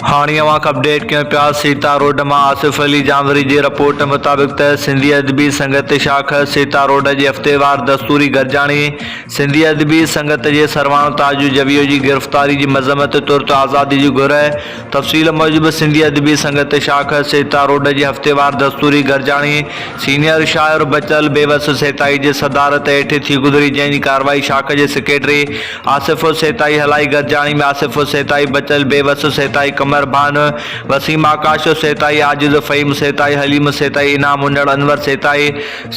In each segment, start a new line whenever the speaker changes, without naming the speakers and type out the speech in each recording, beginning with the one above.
هاڻي اوهان کي اپڊيٽ ڪيون پيا سيتا روڊ مان آصف علي جانوري جي رپورٽ مطابق ته سنڌي ادبي سنگت شاخ سيتا روڊ جي هفتيوار دستوري گڏجاڻي سنڌي ادبي سنگت جي سرواڻ تاج جويو جي گرفتاري جي مذمت ترت آزادي جي گهر تفصيل موجب سنڌي ادبي سنگت شاخ سيتا روڊ جي هفتيوار دستوري گڏجاڻي سينيئر شاعر بچل بيوس سيتائي جي صدارت هيٺ ٿي گذري جنهن جي ڪارروائي شاخ جي سيڪريٽري آصف السيتائي هلائي گڏجاڻي ۾ آصف السيتائي بچل بي وس سيتائي قمر ڀان وسيم آڪاش السيتائي عاجز فهيم السيتائي حليم السيتائي انعام هنڙ انور سيتائي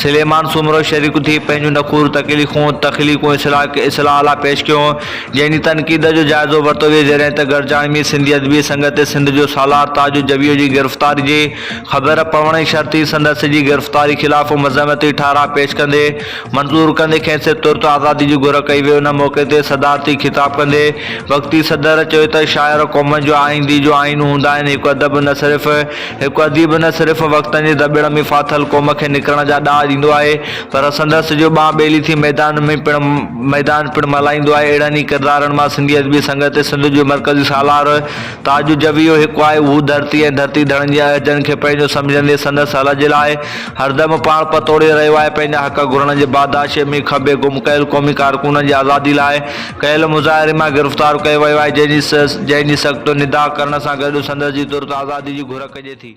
سليمان سومرو شريڪ ٿي پنهنجون نخور تڪليخون تخليقون اصلاح اصلاح لاء پيش ڪيون جنهن جي تنقيد جو جائزو ورتو ويو جڏهن ته گڏجاڻي ۾ سنڌي ادبي سنگت سنڌ جو سالار تاج جويو جي گرفتاري جي خبر پوڻ شرطي سندس جي گرفتاري خلاف مذمتي ٺهراء پيش ڪندي منظور ڪندي کيس ترت آزادي جي گهر ڪئي وئي ان موقعي تي صدارتي خطاب ڪندي وقتي صدر چيو ته شاعر قومن جو آئيندي جو آئينو هوندا آهن هڪ ادب نه صرف هڪ اديب نه صرف وقتن جي دٻيڙ ۾ ڦاٿل قوم کي نڪرڻ جا ڏاهه ڏيندو آهي پر سندس جو ٻانهه ٻيلي ٿي ميدان ۾ پڻ ميدان پڻ ملهائيندو آهي اهڙن ئي ڪردارن مان سنڌي ادبي سنگت سنڌ جو مرڪزي سالار تاج جويو هڪ آهي اهو ڌرتي ۽ ڌرتي ڌڻن جي عهدن کي پنهنجو سمجهندي سندس هلء جي لاء هردم پاڻ پتوڙي رهيو آهي، پنهنجا حق گهرڻ جي باداشيء ۾ کٻي گم ڪيل قومي ڪارڪنن جي آزادي لاء ڪيل مظاهري مان گرفتار ڪيو ويو آهي، جنهن جي سخت ندا ڪرڻ سان گڏ سندس جي ترت آزادي جي گهر ڪجي ٿي.